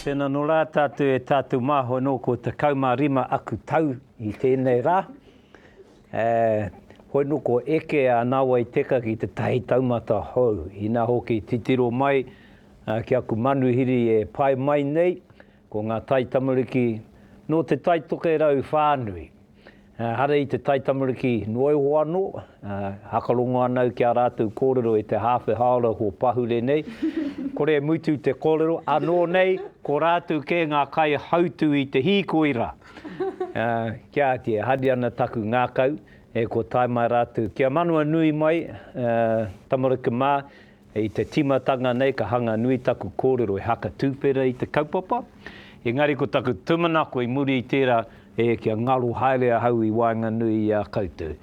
Tēnā nō rā tātou e tātou māhua nō ko 15 aku tau i tēnei rā. Hoi nō ko eke a Nāwai Teka ki te tahi taumata hou, ina hoki titiro mai ki aku manuhiri e pae mai nei, Ko ngā taitamariki nō te tai tokerau whānui, ehara i te taitamariki noa iho anō, hakarongo ana au ki ā rātou kōrero e te hāwhe hāora hō pahure nei, kore e mutu te kōrero, anō nei ko rātou kē ngā kaihautū i te hīkoi rā. Kia āki, e hari ana taku ngākau, e kō tae mai rātou ki a Manawanui mai, tamariki mā, I te tīmatanga nei ka hanga nui taku kōrero e haka tūwhera i te kaupapa, engari ko taku tūmanako i muri i tērā, e kia ngaro haere ahau i waenganui i a koutou.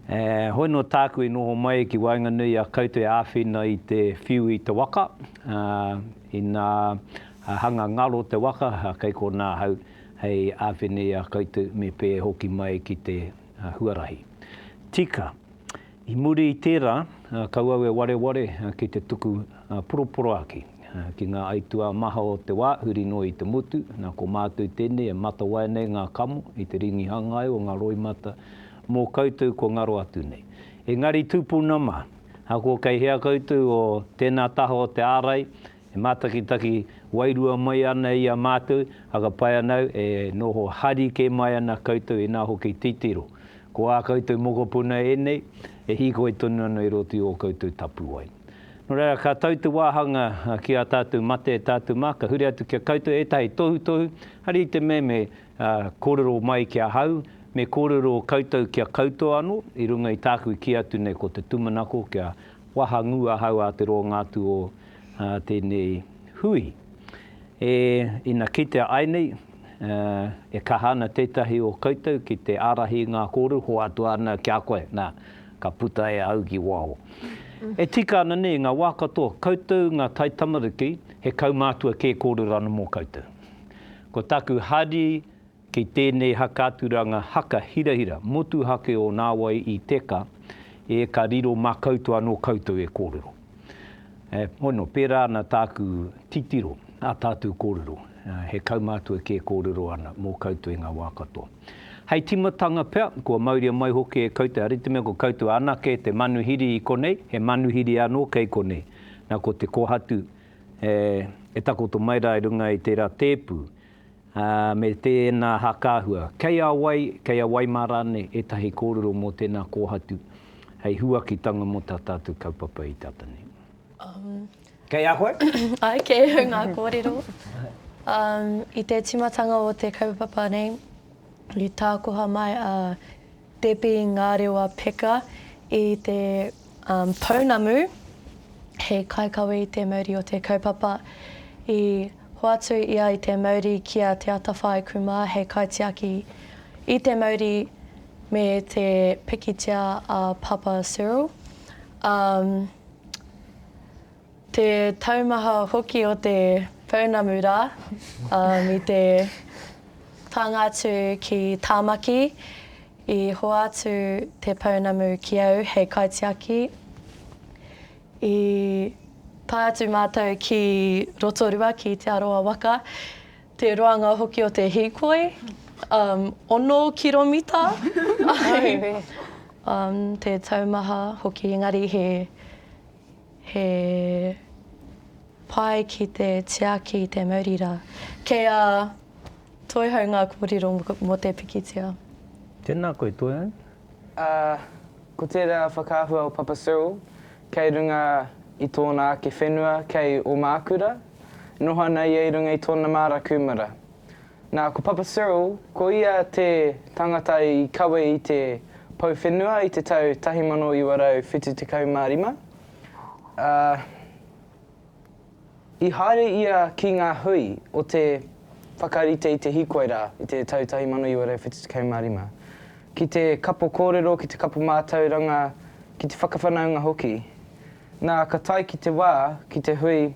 E, hoi nō tāku i noho mai ki waenganui i a koutou e āwhina i te whiu i te waka, ā, inā hanga ngaro te waka, ā, kei konā ahau hei āwhina i a koutou me pēhea hoki mai ki te huarahi. Tika. I muri i tērā, kau au e wareware ki te tuku poroporoaki ki ngā aituā maha o te wā, huri noa i te motu, nā ko mātou tēnei e matawai nei ngā kamo i te rīngi hangai o ngā roimata mō koutou kua ngaro atu nei. Engari tūpuna mā, ahakoa kei hea koutou o tēnā taha o te ārai, E mātakitaki wairua mai ana i a mātou, hakapai ana au e noho hari kē mai ana koutou inā hoki titiro. Ko ā koutou mokopuna ēnei e hīkoi tonu ana i roto i ō koutou tapuwae. Nō reira, ka tau te wāhanga ki ā tātou mate, ā tātou mā, ka huri atu ki a koutou ētahi tohutohu, hari i te meme kōrero mai ki ahau, me kōrero koutou kia kautoa anō, i runga i tāku i kī atu nei ko te tūmanako kia wahangū ahau a te roanga atu o a tēnei hui. E, ina kitea ai nei, e kaha ana tētahi o koutou ki te ārahi i ngā kōru, hoatu ana ki a koe, nā, ka puta e au ki waho. E tika ana nei, i ngā wā katoa, koutou ngā taitamariki, he kaumātua kē kōrero ana mō koutou. Ko tāku hari Kei tēnei hakaturanga haka hirahira motuhake o nāwai i teka e ka riro mā koutou anō koutou e kōrero. E, hono, pērā ana tāku titiro ā tātou kōrero, he kaumātua kē kōrero ana mō koutou i ngā wā katoa. Hei tīmatanga pea, kua mauria mai hoki e koutou, hari te mea ko koutou anake te manuhiri i konei, he manuhiri anō kei konei. Nā, ko te kōhatu e takoto mai rā i runga i tērā tēpu, ā, me tēnā hākāhua, kei a wai, kei a wai mā rānei ētahi kōrero mō tēnā kōhatu hei huakitanga mō tā tātou kaupapa i te ata nei. Kei a koe? Āe, kei au ngā kōrero. I te tīmatanga o te kaupapa nei, i tākoha mai a Pēpi ngā rewa peka i te pounamu he kaikawe i te mauri o te kaupapa. I hoatu ia i te mauri ki a Te Atawhai Kumā hei kaitiaki i te mauri me te pikitia a Papa Cyril. Te taumaha hoki o te pounamu rā, i te pānga atu ki Tāmaki, i hoatu te pounamu ki au hei kaitiaki. I tae atu mātou ki Rotorua ki Te Arawa waka, te roanga hoki o te hīkoi, ono kiromita te taumaha hoki engari he. He pai ki te tiaki te mauri rā. Kei a Toihau ngā kōrero mō te pikitia. Tēnā koe Toihau. Ā, ko tērā whakaahua o Papa Cyril kei runga i tōna ake whenua kei Ōmākura, noho ana ia i runga i tōna māra kūmara. Nā, ko Papa Cyril, ko ia te tangata i kawe i te pou whenua i te tau 1975, ā, i haere ia ki ngā hui o te whakarite i te hīkoi rā i te tau 1975, ki te kapo kōrero, ki te kapo mātauranga, ki te whakawhanaunga hoki. Nā, ka tae ki te wā, ki te hui,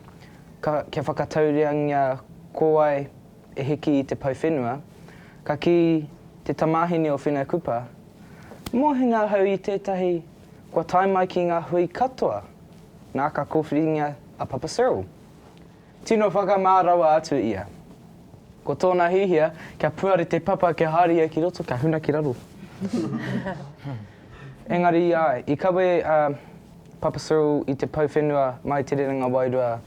ka, kia whakataureangia ko wai, E hiki i te pau whenua, ka kī te tamāhine o Whenua Kupa, Mōhina ahau i tētahi kua tae mai ki ngā hui katoa, nā ka kōwhiringia a Papa Cyril. Tino whakamā rawa atu ia. Ko tōna hihia, kia puare te papa kia haere ia ki roto, kia huna ki raro. Engari, āe, i kawe a Papa Cyril i te pau whenua mai Te Rerenga Wairua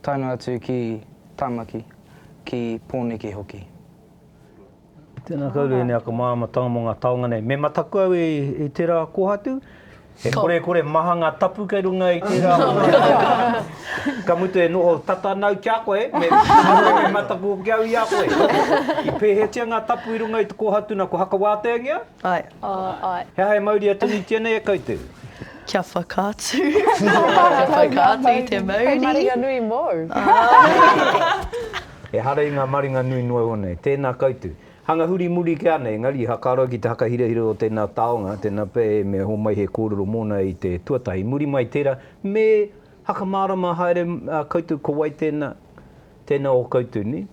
tae noa atu ki Tāmaki. ki Pōneke hoki. Tēnā koutou e neaka māramatanga mō ngā taonga nei. Me mataku au i tērā kōhatu, he korekore maha ngā tapu kei runga i tērā kōhatu. Ka mutu e noho tata ana au ki a koe, me mataku hoki au i a koe. I pēhētia ngā tapu i runga i te kōhatu nā kua hakawāteangia? Ae. Ae. He aha e mauria tonutia nei e koutou? Kia whakaatu. Kia whakaatu i te mauri. Hei maringa nui mōu. Ehara i ngā maringa nui noa iho nei. Tēnā koutou. Hanga huri muri kē ana, engari, ha ka roa ki te hakahirahira o tēnā taonga, tēnā pea e mea homai he kōrero mōna i te tuatahi. Muri mai tērā, me hakamārama haere koutou ko wai tēnā, tēnā o koutou nei.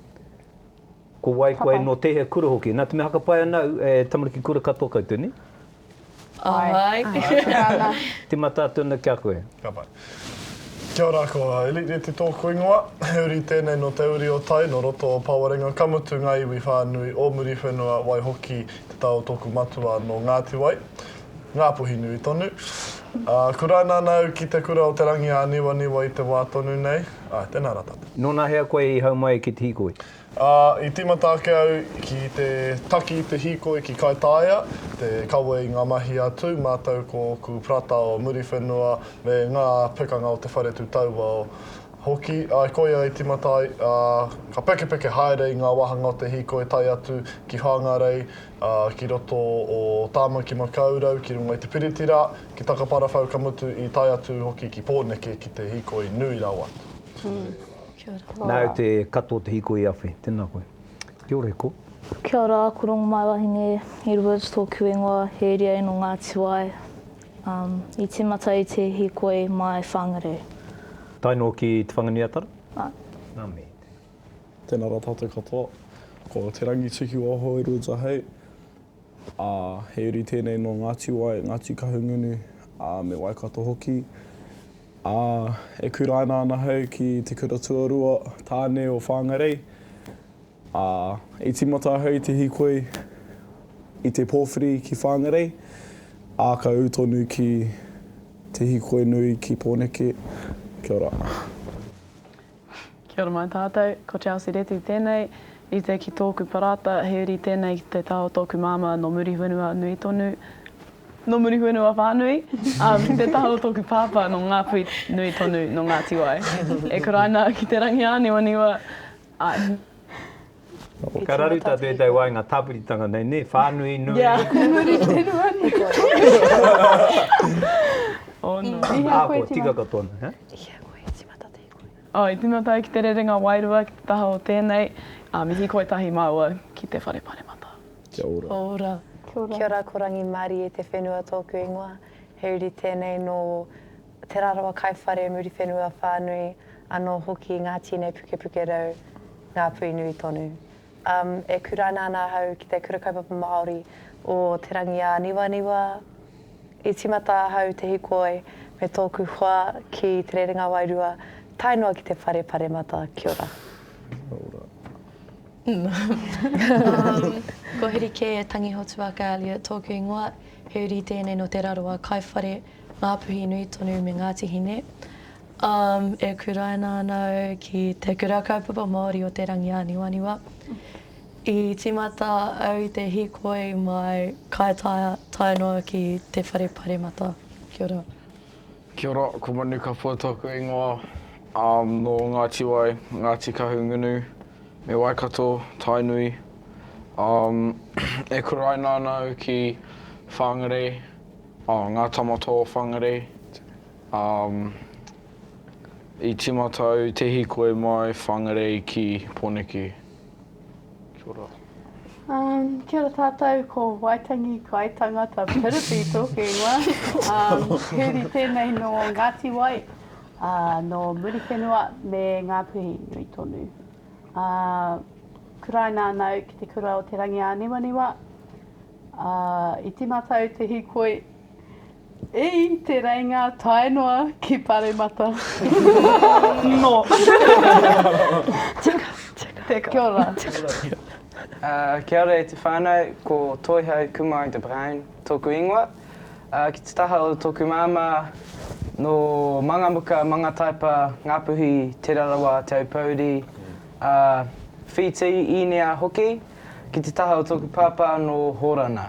Ko wai koe no tehea kura hoki. Na te mea hakapai ana au e tamariki kura katoa koutou ne? Ae. Timata atu ana ki a koe. Ka pai. Kia ora, ko Elite Reti tōku ingoa. He uri tēnei nō te uri o Tai, nō roto o Pawarenga, ka mutu ngā iwi whānui o Muriwhenua, waihoki te tā o tōku matua nō Ngāti Wai, Ngāpuhi nui tonu. Ā, kuraina ana au ki te kura o Te Rangiāniwaniwa i te wā tonu nei. Āe, tēnā rā tātou. Nō nahea koe i hau mai ki te hīkoi? Ā, i tīmata ake au ki te taki i te hīkoi ki Kaitāia, te kawe i ngā mahi a Tū mātou ko ōku parata o Muriwhenua me ngā pekanga o te whare tū tauao hoki. I koia i tīmata ai, ā, ka pekepeke haere i ngā wāhanga o te hīkoi tae atu ki Whāngarei, ā, ki roto o Tāmaki-makau-rau, ki runga i te Piriti rā, ki Takaparawhau ka mutu i tae atu hoki ki Pōneke ki te hīkoi nui rawa. Kia ora. Nā au te katoa te hiko i awhi. Tēnā koe. Kia ora e ko. Kia ora, ko Rongomaiwahine Edwards tōku ingoa, he iriae nō Ngāti Wai. Um, i tīmata i te hīkoi māi whāngarau. Tae noa ki Te Whanganui-a-Tara? Nā. Nā me. Tēnā rā tātou katoa. Ko Te Rangitukiwaho Edwards ahei. ā, he uri tēnei nō Ngāti Wai, Ngāti Kahungunu, ā, me Waikato hoki, ā, e kuraina ana ahau ki te kura tuarua tāne o Whāngarei, ā, i tīmata ahau i te hīkoi i te pōwhiri ki Whāngarei, ā, ka ū tonu ki te hīkoi nui ki Pōneke. Kia ora. Kia ora mai tātou, ko Chelsea Reti tēnei, rite ki tōku parāta, he uri tēnei ki te taha o tōku māmā nō Muriwhenua nui tonu, nō Muriwhenua whānui, ā, ki te taha o tōku pāpā nō Ngāpuhi nui tonu, nō Ngāti Wai. E kuraina ki te rangi ā niwa niwa, āe. Ka raru tā tētau wai ngā tāpiritanga nei, nē, whānui nui. Ia, ko Muriwhenua nui tonu. Ō nō. Ā, kua tika katoa nei, hē? Ia, ko Hēti Matatini. I tīmata au ki te rerenga wairua ki te taha o tēnei, ā, mihi koe tahi māua ki te whare paremata. Kia ora. Kia ora. Kia ora. Kia ora ko Rangi Marie te whenua tōku ingoa. He uri tēnei nō Te Rarawa Kaiwhare, Muriwhenua whānui, anō hoki Ngāti Nei Pukepukerau, Ngāpuinui tonu. E kuraina ana ahau ki te Kura Kaupapa Māori o Te Rangiāniwaniwa. I tīmata ahau te hikoi me tōku hoa ki Te Rerenga Wairua tae noa ki te Whare Paremata. Kia ora. Ko Huri Kē Tangihotuaka Elliot tōku ingoa. He uri tēnei nō Te Rarawa, Kaiwhare, Ngā Puhi nui tonu me Ngāti Hine. Um, e kuraina ana au ki te Kura Kaupapa Māori o Te Rangi Āniwaniwa. I tīmata au i te hīkoi mai Kaitaia tae noa ki Te Whare Paremata. Kia ora. Kia ora, ko Manu Kapua tōku ingoa. Um, nō Ngāti Wai, Ngāti Kahungunu me Waikato, Tainui. Um, e kuraina ana au ki Whangarei, oh, Ngā Tamatō o Whangarei. Um, i timata au te hikoi mai Whangarei ki Poneke. Kia ora. Um, kia ora tātou, ko Waitangi Kai Tangata Piripi tōku ingoa. Um, Huri tēnei nō Ngāti Wai, uh, nō Muriwhenua me Ngāpuhi nui tonu. Uh, kuraina ana au ki te kura o Te Rangiāniwaniwa. Uh, I timata au te hikoi Ii, Te Reinga tae noa ki Paremata. No. Teka, teka. Teka. Kia ora. Uh, kia ora e te whānau, ko Toihau Kumar de Bruin tōku ingoa. Uh, ki te taha o tōku māmā, no Mangamuka, Mangataipa, Ngāpuhi, Te Rarawa, Te Aupōuri, uh, Whītī, Īnia hoki. Ki te taha o tōku pāpā, no Hōrana.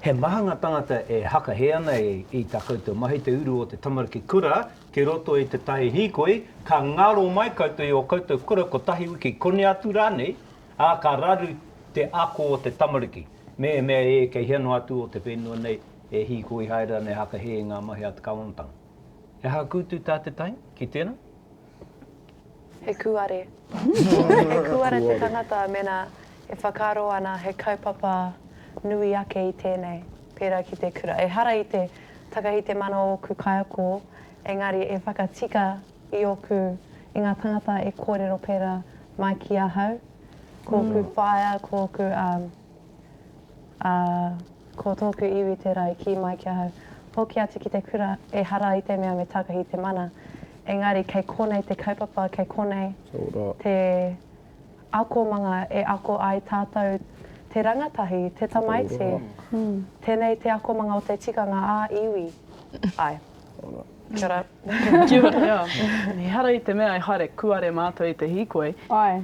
He maha nga tangata e hakahe ana i ta koutou mahi te uru o te tamariki kura ki roto i te tahi hikoi, ka ngaro mai koutou i o koutou kura kotahi wiki koni atu ranei, a ka raru te ako o te tamariki. Mehemea e kei hea noa atu o te whenua nei e hikoi haere ana e hakahe i nga mahi a te kawanatanga. He aha kutu ta te tahi ki tena? He kūare. He kūare te tangata mēnā e whakaaro ana he kaupapa nui ake i tēnei, pērā ki te kura. Ehara i te takahite mana o ōku kaiako, engari e whakatika i ōku, i ngā tangata e kōrero pērā mai ki ahau, ko ōku whaea, ko ōku. Ā, ko tōku iwi tērā i kī mai ki ahau, Hoki atu ki te kura, ehara i te mea me takahi te mana. Engari kei konei te kaupapa, kei konei te akomanga e ako ai tātou te rangatahi, te tamaiti. Tēnei te akomanga o te tikanga ā-iwi. Āe. Kia ora. Kia ora, ea. Ehara i te mea e haere kuare mātou i te hīkoi,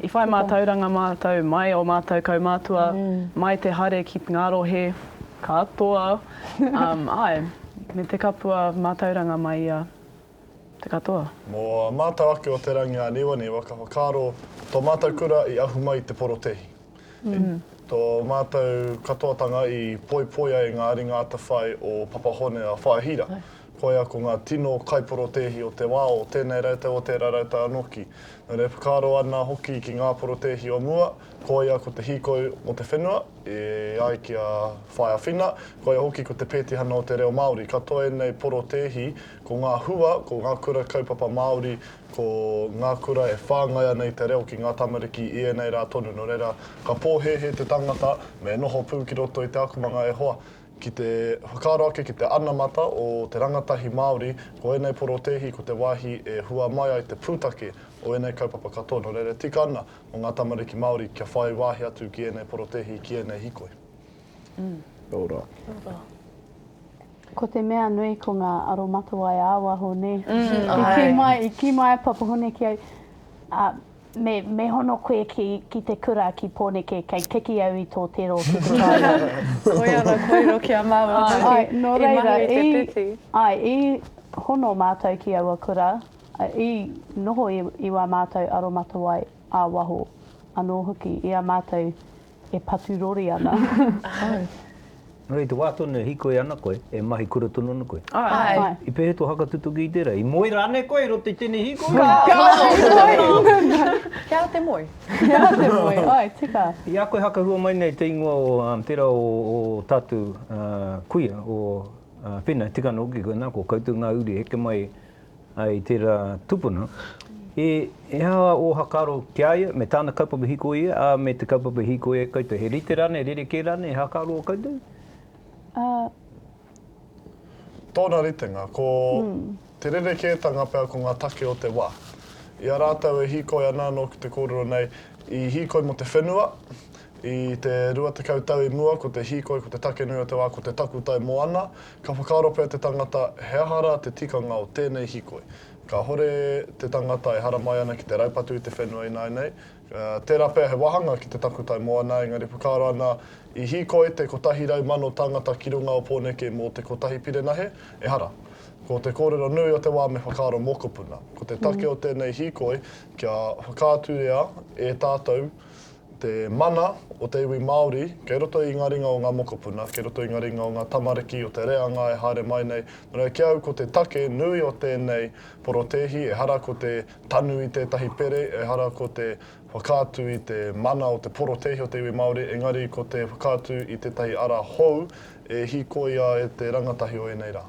i whai mātauranga mātou mai o mātou kaumātua, mai te haere ki ngā rohe katoa, āe, me te kapua mātauranga mai i a te katoa. Mō a mātou ake o Te Rangiāniwa nei, waka whakaaro, tō mātou kura i ahu mai i te porotēhi. Tō mātou katoatanga i poipoi ai ngā ringa atawhai o Papa Hone a Whaea Hira. Koia ko ngā tino kaiporotēhi o te wā o tēnei rautau, o tērā rautau anō ki. Nō reira e whakaaro ana hoki ki ngā porotēhi o mua, koia ko te hīkoi mō te whenua, e ai ki a Whaea Whina, koia hoki ko te pētihana o te reo Māori. Katoa ēnei porotēhi ko ngā hua, ko ngā kura kaupapa Māori, Ko ngā kura e whāngai ana i te reo ki ngā tamariki i ēnei rā tonu, nō reira, ka pōhēhē te tangata me noho pū ki roto i te akomanga e hoa. Ki te whakaaro ake ki te anamata o te rangatahi Māori, ko ēnei porotēhi ko te wāhi e hua mai ai te pūtake o ēnei kaupapa katoa, nō reira e tika ana mō ngā tamariki Māori kia whai wāhi atu ki ēnei porotēhi, ki ēnei hīkoi. Nō rā. Ko te mea nui ko ngā aromatawai ā-waho, nē? I kī mai, i kī mai a Papahone ki au, ā, me, me hono koe ki, ki te kura ki Pōneke, kei keki au i tō te rōpū kuramoe. Koia rā, kōrero ki a māua hoki. Āe, nō reira, i, āe, i hono mātou ki aua kura, i noho i, i wā mātou aromatawai ā-waho anō hoki, i a mātou e patu rori ana. Ahau. Nō reira, i te wā tonu e hīkoi ana koe, e mahi kura tonu ana koe? Āe. I pēhea tō hakatutuki i tērā? I moe rānei koe i roto i tēnei hīkoi? Ka moe! Kia te moe. Kia te moe, āe, tika. I a koe hakahua mai nei te ingoa o tērā o ō tātou kuia, o Pena, tika noa hoki koe, nā, ko koutou ngā uri e heke mai I tērā tupuna, he aha ō whakaaro ki a ia, me tāna kaupapa hīkoi ia, ā, me te kaupapa hīkoi ai koutou? He rite rānei, he rerekē rānei, he whakaaro ō koutou? Ā. Tōna ritenga, ko te rerekētanga pea ko ngā take o te wā. I a rātou e hīkoi ana nōku te kōrero nei, i hīkoi mō te whenua, I te rua tekau tau i mua, ko te hīkoi, ko te take nui o te wā, ko te takutai moana. Ka whakaaro pea te tangata, he aha rā te tikanga o tēnei hīkoi? Kāhore te tangata e haramai ana ki te raupatu i te whenua ināinei. Tērā pea he wāhanga ki te takutai moana, engari whakaaro ana, i hīkoi te kotahi rau mano tāngata ki runga o Pōneke mō te kotahi pirenahe? Ehara. Ko te kōrero nui o te wā me whakaaro mokopuna. Ko te take o tēnei hīkoi, kia whakaaturia e tātou, te mana o te iwi Māori kei roto i ngā ringa o ngā mokopuna, kei roto i ngā ringa o ngā tamariki, o te reanga e haere mai nei. Nō reira, ki a au ko te take nui o tēnei porotēhi, ehara ko te tanu i tētahi pere, ehara ko te whakaatu i te mana o te porotēhi o te iwi Māori, engari ko te whakaatu i tētahi ara hou e hīkoia e te rangatahi o ēnei rā.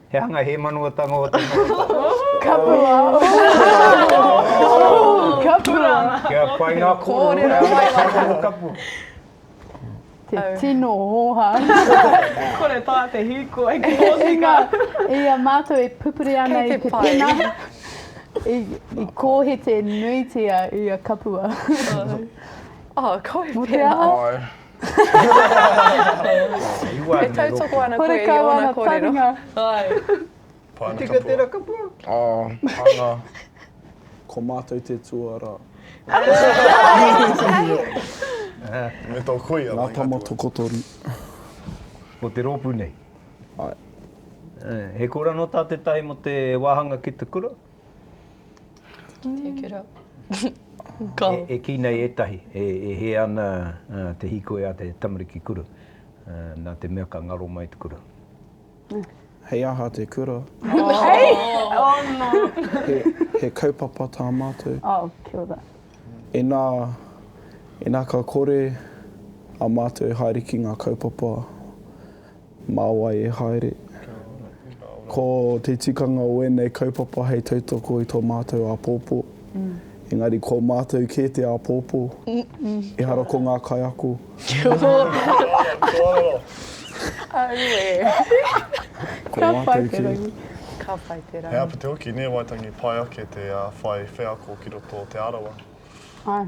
He hanga hēmanuatanga o te noho tapu. Kia pai ngā kōrero e ai ngā noho tapu. Te tino oha. Kore tā te hīkoi ki Kōtika. I a mātou e pupuri ana i te pena, i kōhete nuitia i a Kapua. Mō te aha? E tautoko ana koe i ōna kōrero. Ko tika tērā kapua. Anga. Ko mātou te tuarā. Me tō kuia. Ngā tama tokotoru. Ko te rōpū nei. He kōrero nō tā tētahi mō te wāhanga ki te kura? Take it up. Go. E kī nei ētahi, e hē ana te hīkoi a te tamariki kura, nā te mea ka ngaro mai te kura. Hei aha te kura? Hei! Oh no! He kaupapa tā mātou. Oh, kia ora. Inā, inā ka kore a mātou e haere ki ngā kaupapa, Mā wai e haere? Ko te tikanga o ēnei kaupapa hei tautoko i tō mātou āpōpō, engari ko mātou kē te āpōpō, ehara ko ngā kaiako. Kia ora! Aue! Ko mātou kē. Ka pai te rangi. He āpiti hoki, nē Waitangi, pai ake te whai wheako ki roto o Te Arawa. Āe.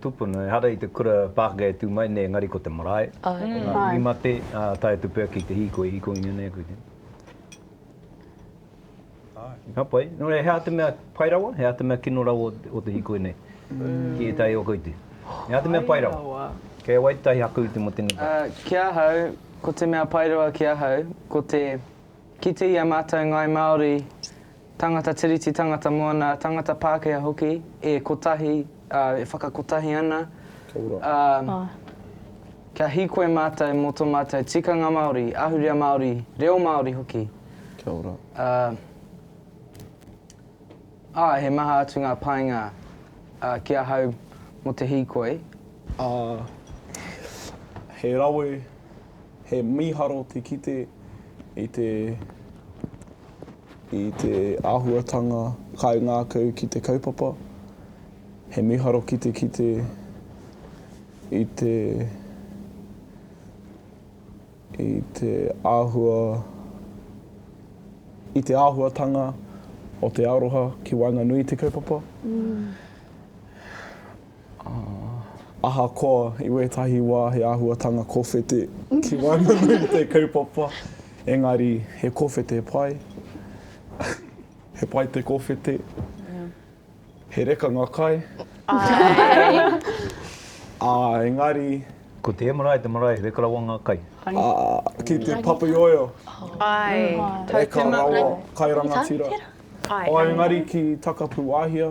Tupuna, ehara i te kura pākeke e tū mai nei engari ko te marae, ko ngā iwi mate, ā, tae atu pea ki te hīkoi, hīkoi ngia nei koe tēnei. Ka pai. Nō reira, he aha te mea pai rawa, he aha te mea kino rawa o te hīkoi nei ki ētahi o koutou? He aha te mea pai rawa? Kei a wai tētahi haku i te motu nei? Ki ahau, ko te mea pai rawa ki ahau, ko te kite i a mātou Ngāi Māori Tangata Tiriti, tangata moana, tangata Pākehā hoki, e kotahi, ā, e whakakotahi ana, ā, kia hīkoi mātou mō tō mātou tikanga Māori, ahurea Māori, reo Māori hoki. Kia ora. Ā, ā, he maha atu ngā painga, ā, ki ahau mō te hīkoi. Ā, he rawe He mīharo te kite i te i te āhuatanga kaingākau ki te kaupapa. He mīharo ki te kite i te i te āhua i te āhuatanga o te aroha ki waenganui i te kaupapa. Ahakoa i wētahi wā he āhuatanga kōwhete ki waenganui i te kaupapa, engari he kōwhete pai, he pai te kōwhete, he reka ngā kai, ā, engari. Ko te marae te marae, reka rawa ngā kai. Ā, ki te papaioio, reka rawa kai rangatira. Ā, engari ki Takapūāhia.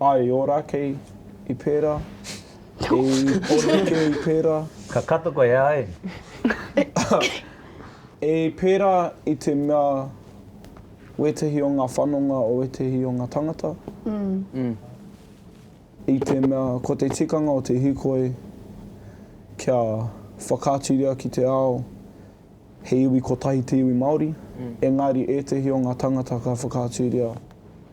Ai, ora, kei i pera, kei ora, kei i pera. Ka kato koe, ae. I pera i te mea wetahi o nga whanonga o wetahi o nga tangata, i te mea ko te tikanga o te hikoi kia whakaaturia ki te ao he iwi kotahi te iwi Maori, engari etehi o nga tangata ka whakaaturia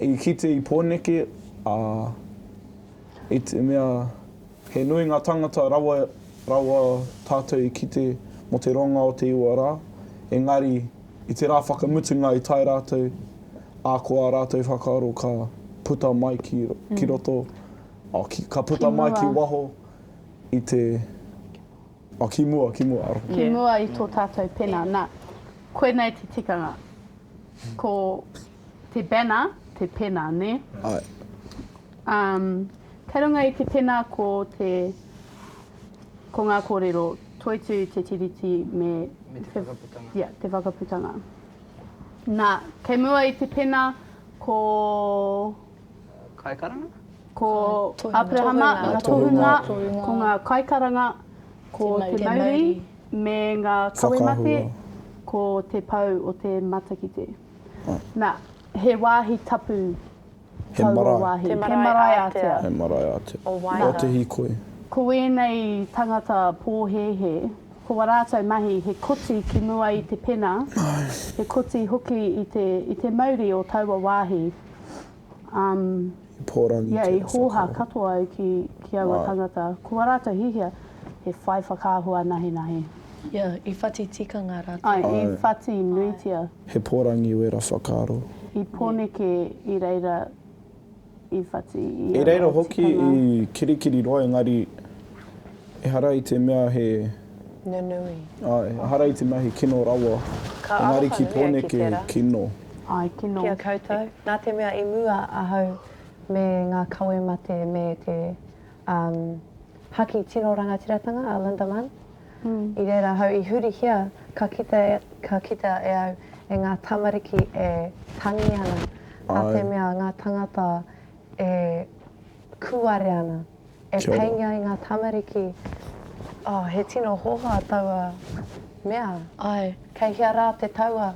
I kite i Pōneke, ā, i te mea he nui ngā tāngata rawa rawa tātou i kite mō te ronga o te iwa rā, engari i te rā whakamutunga i tae rātou, ā, ko ā rātou whakaaro ka puta mai ki, ki roto, ā, ki, ka puta mai ki waho i te, ā, ki mua, ki mua, aroha. Ki mua i tō tātou pena. Nā, koinei te tikanga. Ko. Te banner, te pena, ne? Ae. Um, kei runga i te pena ko te, ko nga korero, Toitu te tiriti me, me te, te whakaputanga. Ia, yeah, te whakaputanga. Na, kei mua i te pena ko... Kaikaranga? Ko Aperahama, nga tohunga, ko nga kaikaranga, ko te mauri, me nga kawe mate, ko te pou o te matakite. Na, he wāhi tapu taua wāhi. He marae ātea. He marae ātea. O Wairā. O te hīkoi. Ko ēnei tangata pōhēhē, ko a rātou mahi he koti ki mua i te pena, he koti hoki i te mauri o taua wāhi. Pōrangi ia i hōha katoa ai ki ki aua tangata ko a rātou hihia he whai whakaahua anahinahi. Ia i whati tikanga rātou. Ai i whati nuitia. He pōrangi wera whakaaro. I Pōneke i reira i whati i aua tikanga. I reira hoki i kirikiriroa engari. Ehara i te mea he. Nunui. Āe, ehara i te mea he kino rawa. Ka Engari ki Pōneke he kino. Āe, kino. Ki a koutou, nā te mea i mua ahau me ngā kawe mate me te haki tino rangatiratanga a Linda Munn, i reira ahau i hurihia ka kitea, ka kitea e au e ngā tamariki e tangi ana, nā te mea ngā tangata e kūare ana. E peinga i nga tamariki. Oh, he tino hoha taua mea. Ai. Kei hea ra te taua?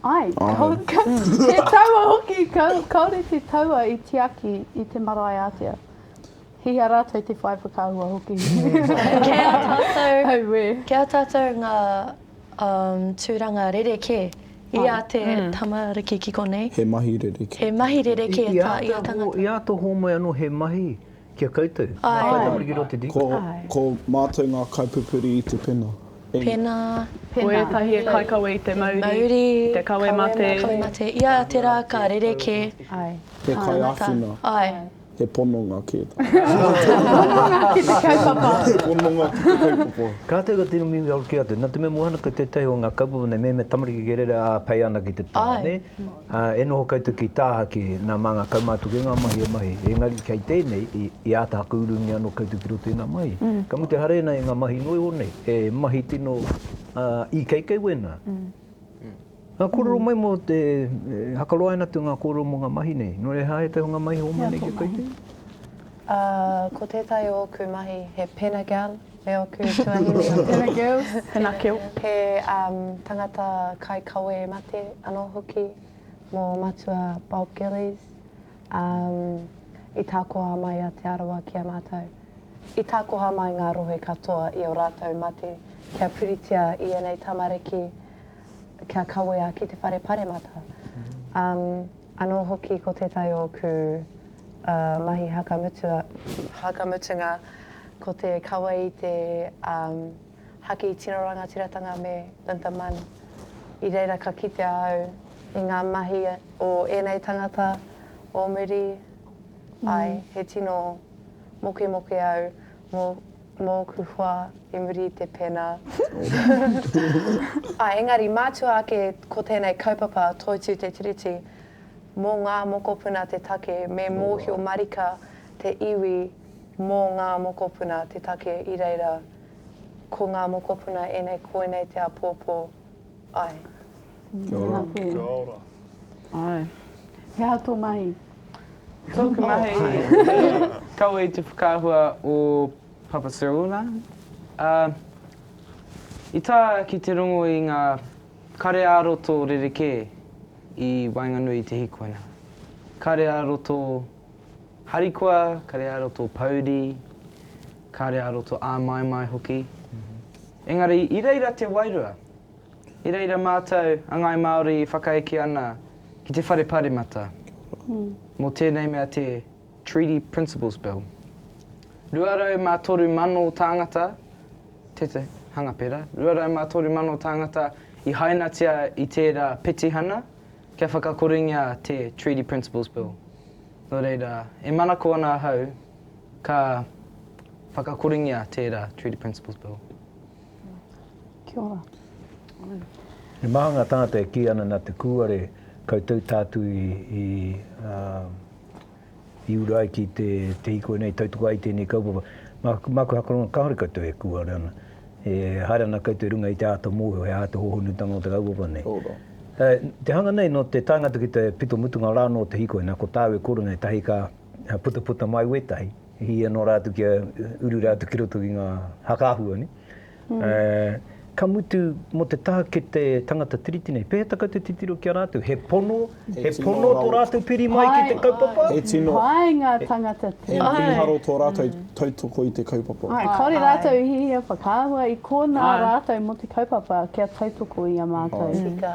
Ai, he taua hoki, kaore te taua i tiaki i te marae atea. He hea ratou te whai whakaahua hoki? Kei a tatou, kei a tatou nga. Um, tūranga rerekē. I a te tamariki ki konei. He mahi rerekē. He mahi rerekē tā ia tangata. I āta hōmai anō he mahi ki a koutou? Ai. Ko tamariki roa te di? Ko, ko mātou ngā kaipupuri i te pena. E. Pena. Pena. Ko ētahi e kaikawe i te mauri. Mauri. I te kawe mate. Kawe mate. I a te rā ka rerekē. Ai. He kaiāwhina. Ai. He pononga kē tā. Pononga ki te kaupapa. He pononga ki te kaupapa. Ka tau ka tino mihi aro ki a te, na te mea mua ana ko tetahi o nga kaupapa nei mehemea tamariki kei rere a pei ana ki te pa ne, a e noho koutou ki tahaki na ma nga kaumatuku e nga mahi e mahi, engari kei tenei i ata haku urungi ano koutou ki roto i nga mahi. Ka mutu hare ana i nga mahi noiho nei, e mahi tino ikeikei wena. Ngā kōrero mai mō te, e hakaroaina atu ngā kōrero mō ngā mahi nei. Nō reira, he aha ētahi o ngā mahi hōmai nei kia kaitei? Ā, ko tētahi o ōku mahi, he pena gal e ōku tuahine. Pena gal, pena gal. He tangata kaikawe mate anō hoki mō Matua Bob Gillies, ā, i takoha mai a Te Arawa ki a mātou. I takoha mai ngā rohe katoa i ō rātou mate kia puritia i ēnei tamariki. kia kawea ki te whare paremata. Anō hoki ko tētahi o ōku mahi haka mutua, haka mutunga ko te kawe i te haki tino rangatiratanga me Linda Munn. I reira ka kitea au i ngā mahi o ēnei tangata o muri, āe, he tino mokemoke au mō Mōku hoa i muri i te pena. Ā, engari mātua ake ko tēnei kaupapa Toitū te Tiriti, mō ngā mokopuna te take, me mōhio marika te iwi mō ngā mokopuna te take i reira, ko ngā mokopuna ēnei koinei te āpōpō, Ae. Kia ora. Kia ora. Ae. He aha tō mahi? Tōku mahi, kaua i te whakaahua o Papa Sirona. Uh, i tā ki te rongo i ngā kare ā-roto rerekē i waenganui i te hikoina. Kare ā-roto Harikoa, kare aro tō pouri, kare aro tō āmaimai hoki. Engari, i reira te wairua. I reira mātou, a Ngāi Māori, i whakaeke ana ki te Whare Pāremata, mō tēnei mea te Treaty Principles Bill. 203,000 tāngata, teta, hanga pera, 203,000 tāngata i hainatia i tērā petihana, Kia whakakorengia te Treaty Principles Bill. Nō reira, e manako ana ahau ka whakakorengia tērā Treaty Principles Bill. Kia ora. He maha ngā tāngata e kī ana nā te kūare koutou tātū i i uru ai ki te, te hiko nei, tautoko ai tēnei kaupapa. Mā, māku hakoranga, kāore koutou e kūare ana, e haere ana koutou i runga i te āta mōhio, he āta hōhonutanga o te kaupapa nei. Tō rā. Ā, te hanga nei, nō te taenga atu ki te pito mutunga rā anō o te hiko, inā, ko tāu e korenga ētahi ka putaputa mai wētahi, hīhia noa rā atu kia uru rā atu ki roto ki ngā haka āhua, nē. Ka mutu, mō te taha ki te tangata Tiriti nei, pēhea kau te titiro ki a rātou? He pono, he pono tō rātou piri mai ki te kaupapa? He tino. Pai ngā tangata Tiriti. He mīharo tō rātou tautoko i te kaupapa. Āe, kāore rātou i hiahia whakaahua i konā rātou mō te kaupapa kia tautoko i a mātou. Tika.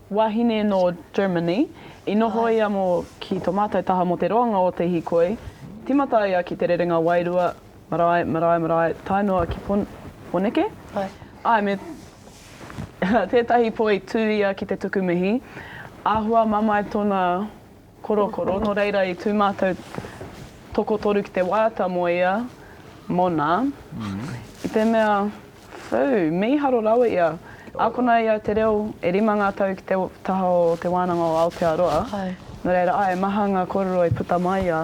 Wahine nō Germany, i noho ia mō ki tō mātou taha mō te roanga o te hīkoi, tīmata ia ki te rerenga wairua, marae, marae, marae, tae noa ki Pon, Poneke? Āe. Āe, me tētahi pō i tū ia ki te tuku mihi, āhua mamae tōna. Korokoro, nō reira i tū mātou tokotoru ki te waiata mō ia, mōna, i te mea, whū, mīharo rawa ia. Ākona i au te reo, e rima ngā tau ki te taha o Te Wānanga o Aotearoa, nō reira, āe, maha ngā kōrero i puta mai i a.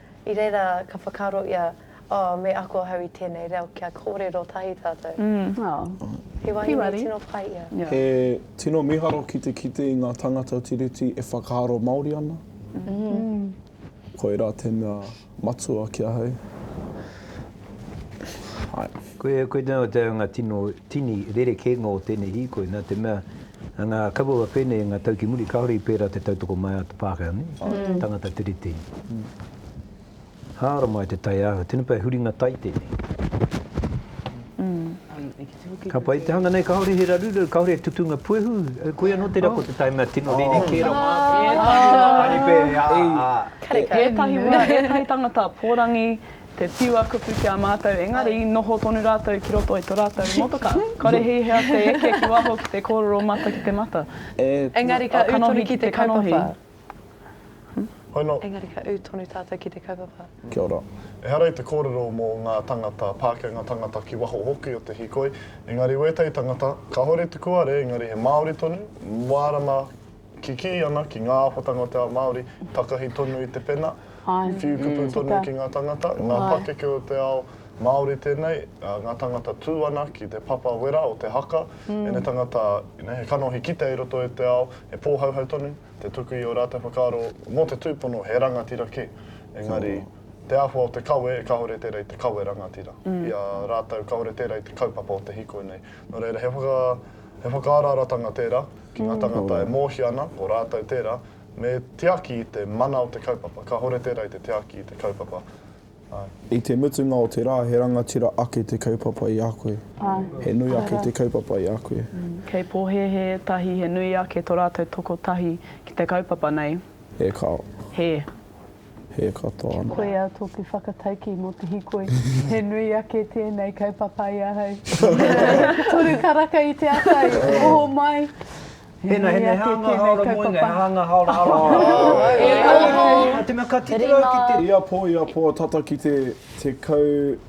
I reira ka whakaaro ia, Oh, me ako ahau i tēnei reo kia kōrero tahi tātou. He wahine tino pai ia. He tino miharo ki te kite i ngā tangata Tiriti e whakaaro Māori ana. Koirā te mea matua ki ahau. Koinā te anga tino tini rerekēnga o tēnei hīkoi, nā te mea, ngā kaupapa pēnei, ngā tau ki muri, kāore i pērā te tautoko mai a te Pākehā nei, tangata tere tēnei. Hāora mai te taiāwhio, tēnei pea he huringa tai tēnei. Ka pai te hanga nei, kāore he raruraru, kāore he tutunga puehu, koia nō tērā ko te tae mea tino rerekē rā mātou. Ētahi wā, ētahi tangata pōrangi, Te whiua kupu ki a mātou, engari i noho tonu rātou ki roto i to rātou motoka. Kore hei hea te eke ki waho ki te kōrero mata ki te mata. Engari ka ū tonu ki te kaupapa. Engari ka ū tonu tātou ki te kaupapa. Kia ora. Ehara i te kōrero mō ngā tangata Pākenga tangata ki waho hoki o te hikoi, engari wētahi tangata, kāore te kuare engari he Māori tonu, mārama, Kikī ana ki ngā ako tangata Māori, takahi tonu i te pena, whiu kupu tonu ki ngā tangata, ngā pakeke o te ao Māori tēnei, ngā tangata tū ana ki te papa wera o te haka, ēnei tangata he kanohi kite i roto i te ao, he pōhauhau tonu te tuku i ō rātou whakaaro mō te tūpono he rangatira kē, engari te āhua o te kawe kāore tērā i te kawe rangatira, i a rātou kāore tērā i te kaupapa o te hīkoi nei. Nō reira, he whakaararatanga tērā. Ki ngā tāngata e mōhio ana, ko rātou tērā, me tiaki i te mana o te kaupapa. Kāhore tērā i te tiaki i te kaupapa. Āe. I te mutunga o te rā, he rangatira ake te kaupapa i a koe. Āe. He nui ake te kaupapa i a koe. Kei pōhēhē tahi he nui ake tō rātou toko tahi ki te kaupapa nei. He kao. He. He katoa ana. Koia toku whakataukī mo te hikoi. He nui ake tēnei kaupapa i ahau. Toru karaka i te ata i oho mai. He nui ake tēnei kaupapa. Ia pō, ia pō, tata ki te 10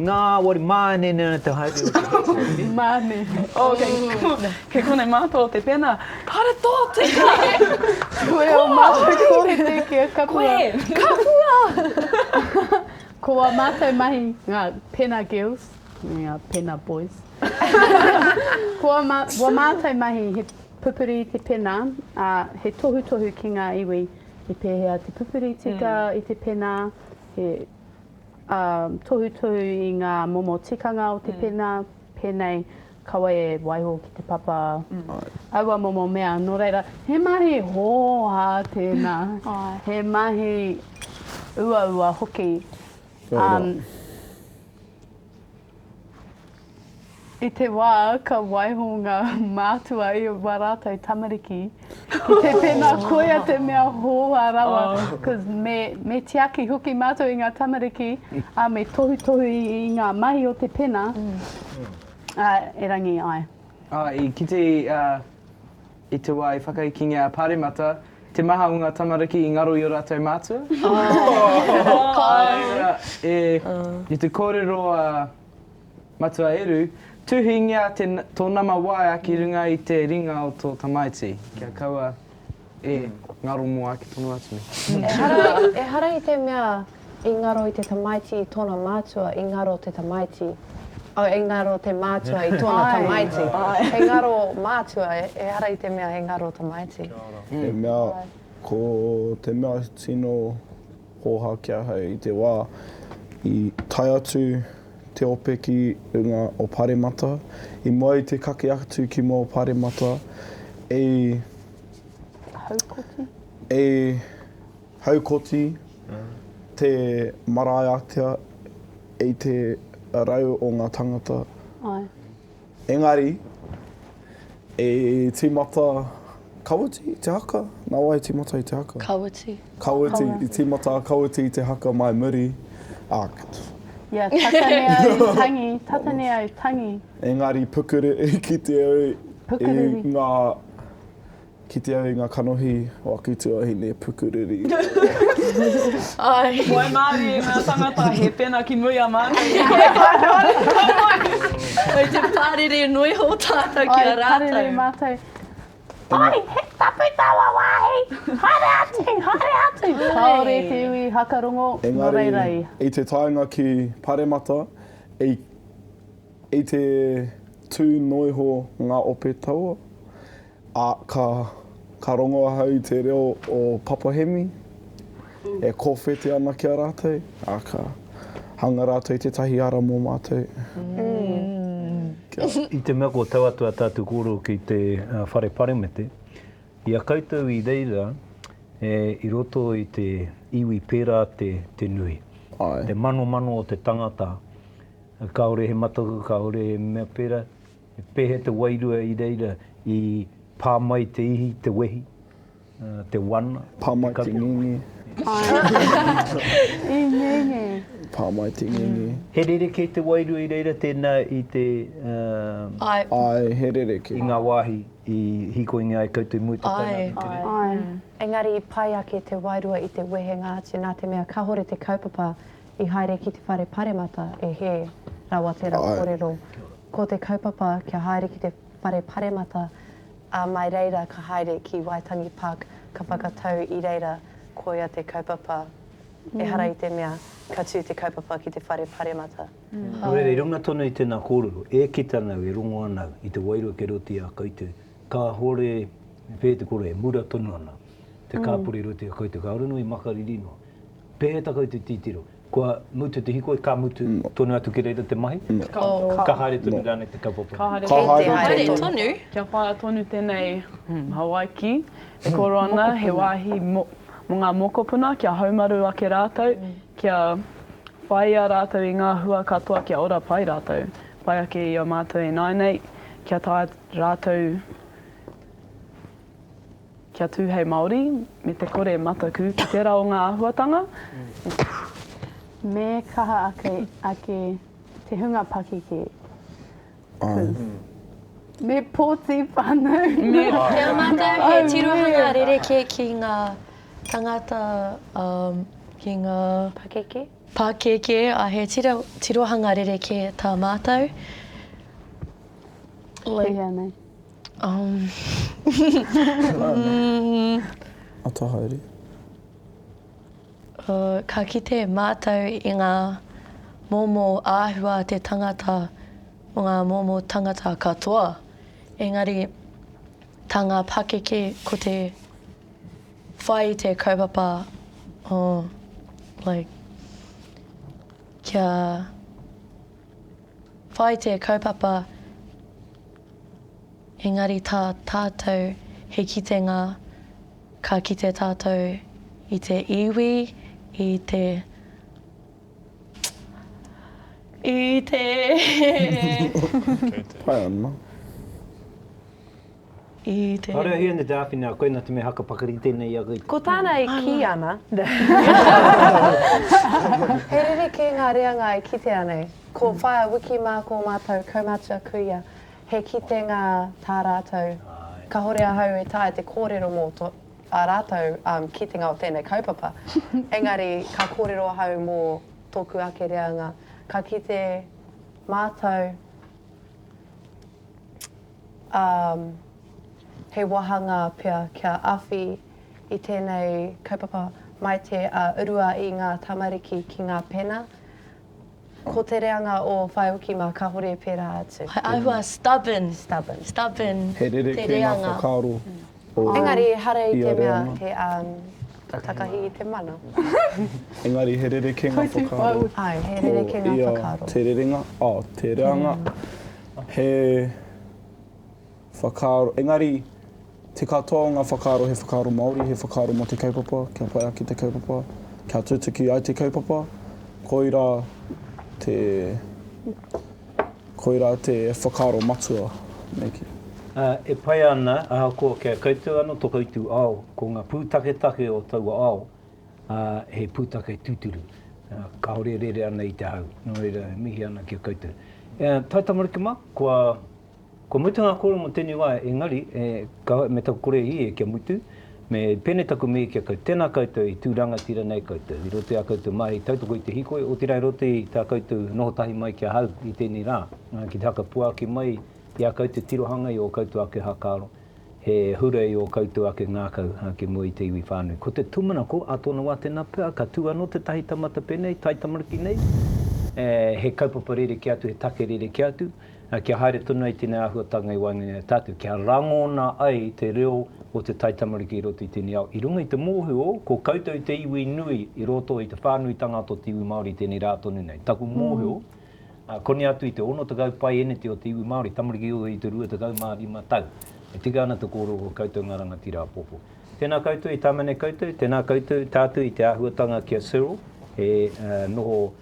Nā, wari, māne nē te haere o te hēpori. Māne. Oh, kei, kei konei mātou o te pena. Kāre tō tika! Koe o mātou kōrete ki a Kapua. Koe! Kapua! Ko wā mātou mahi, ngā pena girls, me ngā pena boys. Ko wā mā, wā mātou mahi he pupuri i te pena, ā, he tohutohu ki ngā iwi, he pēhea te pupuri tika i te pena, he Ā, tohutohu i ngā momo tikanga o te pena, pēnei, kaua e waiho ki te papa aua momo mea, nō reira, he mahi hōhā tēnā, he mahi uaua hoki. Ā, I te wā ka waiho ngā mātua i ō rātou tamariki, ki te pēnā koia te mea hōhā rawa, cause me, me tiaki hoki mātou i ngā tamariki, ā, me tohutohu i, i ngā mahi o te pena, ā, erangi, āe. Ā, i kite, ā, I te wā i whakaikingia a Paremata te maha o ngā tamariki i ngaro i o rātou mātua, āe i te kōrero a Matua Eru, tuhingia tō nama waea ki runga i te ringa o tō tamaiti, kia kaua e ngaro mō ake tonu atu nei. Ehara i te mea I ngaro i te tamaiti i tona mātua, i ngaro te tamaiti. Oh, i ngaro te mātua i tona tamaiti. He ngaro mātua, ehara i te mea he ngaro tamaiti. He mea, ko te mea tino hōha ki ahau i te wā i tae atu te ope ki runga o Paremata, i mua i te kake atu ki mua o Paremata, i. Haukoti? I. Haukoti te marae ātea i te rau o ngā tangata. Engari, i tīmata Kawiti i te haka? Nā wai i tīmata i te haka? Kawiti. Kawiti, i tīmata a Kawiti i te haka mai muri, ā, Ia, tata nei au tangi, tata nei au tangi. Engari, pukuru, i kite au i ngā. Kite au i nga kanohi o aku tuahine pukuriri. Wai Marie i nga tangata he pena ki muri a Marie i kore tatou kanohi. Kei te parere noi ho tatou ki a ratou. Ai parere matou. Pai he tapu taua wahi. Haere atu, haere atu. Kaore te iwi hakarongo no reira i. I te taenga ki Paremata i te tu noiho nga ope taua. Ā, ka, ka rongo ahau i te reo o Papa Hemi, e kōwhete ana ki a rātou, ā, ka hanga rātou i tētahi ara mō mātou. Kia. I te mea ko tau atu a tātou kōrero ki te Whare Paremete, i a koutou i reira e, i roto i te iwi pērā te, te nui. Āe. Te manomano o te tangata, kāore he mataku, kāore he mea pērā, He pēhea te wairua i reira i pā mai te ihi, te wehi, te wana, te kawe? Pā mai te ngenge. I ngenge. Pā mai te ngenge. He rerekē te wairua i reira tēnā i te... Āe. Āe, he rerekē. I ngā wāhi i hīkoingia ai koutou mō te taenga ki te reo? Āe. Āe. Engari i pai ake te wairua i te wehenga atu nā te mea kāhore te kaupapa i haere ki te whare paremata e hē rawa tērā kōrero. Āe. Ko te kaupapa kia haere ki te whare paremata a mai reira ka haere ki Waitangi Park ka whakatau i reira koia te kaupapa ehara i te mea ka tu te kaupapa ki te whare paremata. Nō reira i runga tonu i tēnā kōrero e kita nau e rongo ana i te wairua kei roto i a koutou kāore e whē te koroua e mura tonu ana te kāpori i roto i a koutou kāore noa i makariri noa pēhea ta koutou titiro Kua mutu te hikoi, ka mutu tonu atu ki reira te mahi, ka haere tonu rānei te kaupapa. Ka haere tonu. Ka haere tonu. Kia whaia tonu tēnei Hawaiki e koro ana, he wāhi mō ngā mokopuna kia haumaru ake rātou, kia whāia rātou i ngā hua katoa kia ora pai rātou, pai ake i a mātou ināinei, kia taea rātou. Kia tū hei Māori, me te kore mataku ki tērā o ngā āhuatanga, e. Me kaha ake te hunga pakeke pū. Me pōti whānau. Me pōti whānau. Kia mātou he tirohanga rerekē ki ngā tangata, ki ngā. Pakeke. Pakeke, ā, he tirohanga rerekē tā mātou. Like. He hea nei. Ka kite mātou i ngā momo āhua a te tangata mō ngā momo tangata katoa, engari tā ngā pakeke ko te whai i te kaupapa o like kia Whai te kaupapa engari tā tātou he kitenga ka kite tātou i te iwi, i te i te. Pai ana. I te. Kāore a Hione te āwhina a koina te mea haka pakari i tēnei iaka i. Ko tāna e kī ana. He rerekē ngā reanga e kitea nei. Ko Whaea Wiki mā ko mātou kaumatua kuia he kitenga tā rātou. Kahore ahau e taea te kōrero mō tō ā rātou kitenga o tēnei kaupapa, engari ka kōrero ahau mō tōku ake reanga. Ka kite mātou. ā, he wāhangā pea kia awhi i tēnei kaupapa mai te a urua i ngā tamariki ki ngā pena, ko te reanga o whāioki mā kāore pērā atu. He āhua stubborn. Stubborn. Stubborn te reanga. He rerekē ngā whakaaro Engari ehara i te mea he takahi i te mana. Engari he rerekenga whakaaro. Ai, he rerekenga whakaaro. Ko ia te rerenga, oh, te reanga, he whakaaro, engari te katoa o ngā whakaaro he whakaaro Māori, he whakaaro mō te kaupapa, kia pai ake te kaupapa, kia tutuki ai te kaupapa, koirā te... Koirā te whakaaro matua, me kī. Ā, e pai ana, ahakoa kia kaitau ana tō koutou ao, ko ngā pūtaketake o taua ao, ā, he pūtake tūturu, ā, kāore e rere ana i te hau, nō reira e mihi ana ki a koutou. Ā, Tae tamariki mā, kua, kua mutu ngā kōrero mō tēnei wā, engari, e, kāore me taku kore e hē kia mutu, Me pēnei taku mihi ki a koutou, tēnā koutou i tū rangatira nei koutou i roto i ā koutou mahi tautoko i te hīkoi, otirā i roto i tā koutou noho tahi mai ki ahau i tēnei rā, ki te whakapuaki mai i ā koutou tirohanga i ō koutou ake hakaaro, he hura i ō koutou ake ngākau ki mua i te iwi whānui. Ko te tūmanako a tōna wā tēnā pea, ka tū anō tētahi taumata pēnei, taitamariki nei, he kaupapa rerekē atu, he take rerekē atu, Kia haere tonu ai tēnei āhuatanga i waenganui i a tātou, kia rangona ai te reo o te taitamariki i roto i tēnei ao, i runga i te mōhio ko koutou te iwi nui i roto i te whānuitanga ata o te iwi Māori tēnei rā tonu nei. Taku mōhio, koni atu i te 60 paeneti o te iwi Māori, tamariki o i te 25 tau, e tika ana te kōrero ko koutou ngā rangatira apopo. Tēnā koutou i tāmane koutou, tēnā koutou, tātou i te āhuatanga ki a Cyril, he noho.